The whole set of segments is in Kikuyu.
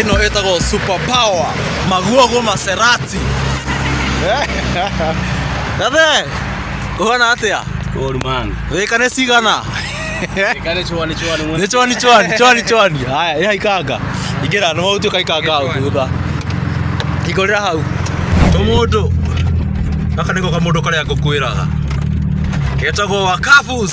ĩno ĩtagwo super power maguogo maserati gathe ũhana atĩa Good man. rĩka nĩ cigana Kale chwani chwani mwe. nĩ chwani chwani chwani chwani haya ĩha ikanga ingĩra nĩ maũtio kaikanga hau thutha ingorĩra hau tũmũndũ gaka nĩko kamũndũ karĩa ngũkwĩraga getagwo wakabus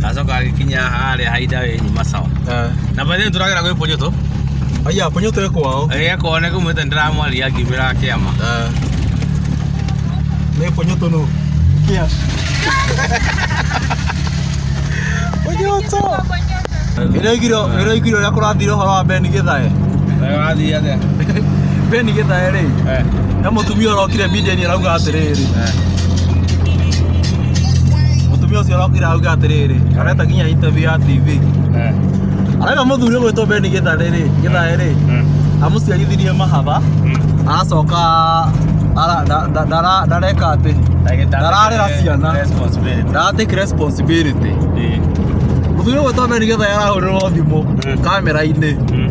Gacoka gagĩkinya harĩa hainda we nyuma sawa. Eh. Na bado tũragera gwĩ Ponyoto. Aya Ponyoto eko wao. Eh, kwa nĩ kumwĩta ndĩramwaria ngĩmĩra kĩama. Eh. Nĩ Ponyoto no. Kia. Ponyoto. Ĩraigiro ĩraigiro rĩa kũrathira ũhoro wa Ben Githae. Eh, wathiĩ atĩa? Ben Githae rĩ. Eh. Nĩ mũtumia ũrokire Biden arauga atĩrĩrĩ. Eh. mũtumia ũcio arokire auga atĩrĩrĩ areta nginya interview ya tv Eh, arenda mũthuri ũgwĩtwo beni gĩtharĩ rĩ gĩthaĩ rĩ mm, amũciarithirie mahatha mm. aracoka ara- nda- nda- ndara- ndareka atĩ Ndagĩtarĩ Ndararera nĩ ciana. responsibility. ndaratake responsibility Eh, mũthuri ũgwĩtwo beni gĩthaĩ arahũrĩrwo thimũ Mm. kamera-inĩ mm.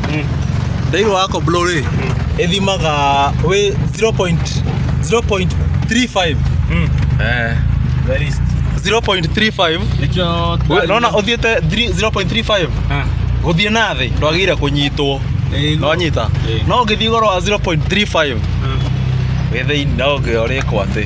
thĩinĩ wa komblo rĩ ĩthimaga wĩ 0.0.35 eh Very easy. 0.35 Nĩkĩo We- nona ũthiĩte 3 0.35 Ah, gũthiĩ na thĩ ndwagĩire kũnyitwo eh, no nyita Eh. no ũngĩthiĩ igũrũ wa 0.35 ah. wĩ thĩinĩ no ũngĩorĩkwo atĩ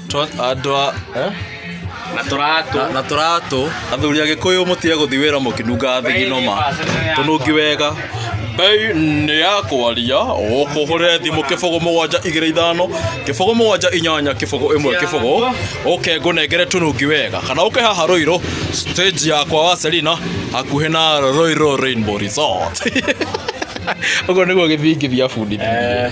Twa- andũ a eh? na tũratũ Na- na tũratũ athuri agĩkũyũ mũtige gũthi wĩra mũkĩnungaga thigino tũnungi wega mbei nĩ ya kwaria ũkũhũre thimũ kĩbũgũ mũgwanja igĩrĩ ithano kĩbũgũ mũgwanja inyanya kĩbũgũ ĩmwe kĩbũgũ ũke ngũnengere tũnungi wega kana ũke haha rũirũ stage yakwa wa selina hakuhĩ na rũirũ rainbow resort ũguo nĩguo gĩthingithia bundithia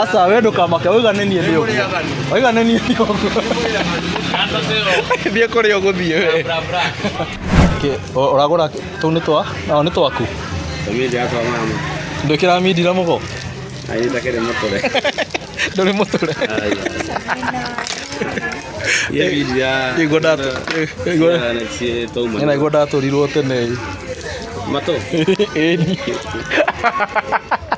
aca we ndũkamake wauga nĩ niĩ ndĩ ũguo wauga nĩ niĩ ndĩ ũguo thiĩ kũrĩa ũgũthiĩ we Kĩ- ũ- ũragũra tũu nĩ twa ao nĩ twaku ndwĩkĩra mindira mũgo ndũrĩ mũtũre Nĩguo ndatũ- nĩguo- nĩ naiguo ndatũrirwo tene ĩni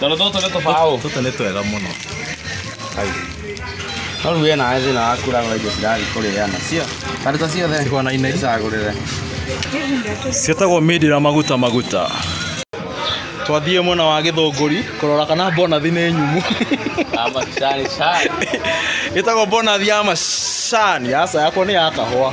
Tondũ tũtũ nĩ tũbaũ. Tũtũ nĩ twega mũno. No rĩu wĩna aĩ thĩna wa kũragũra indo cirathiĩ kũrĩĩa nacio. Karĩta ciothe. Cihwanaine. Cagũrĩre. Ciĩtagwo mindi na maguta maguta. Twathiĩ mwena wa Gĩthũngũri kũrora kana bonathi nĩ nyumu. Ama cari cari. Ĩtagwo bonathi ya macani. Aca yakwa nĩ ya kahũa.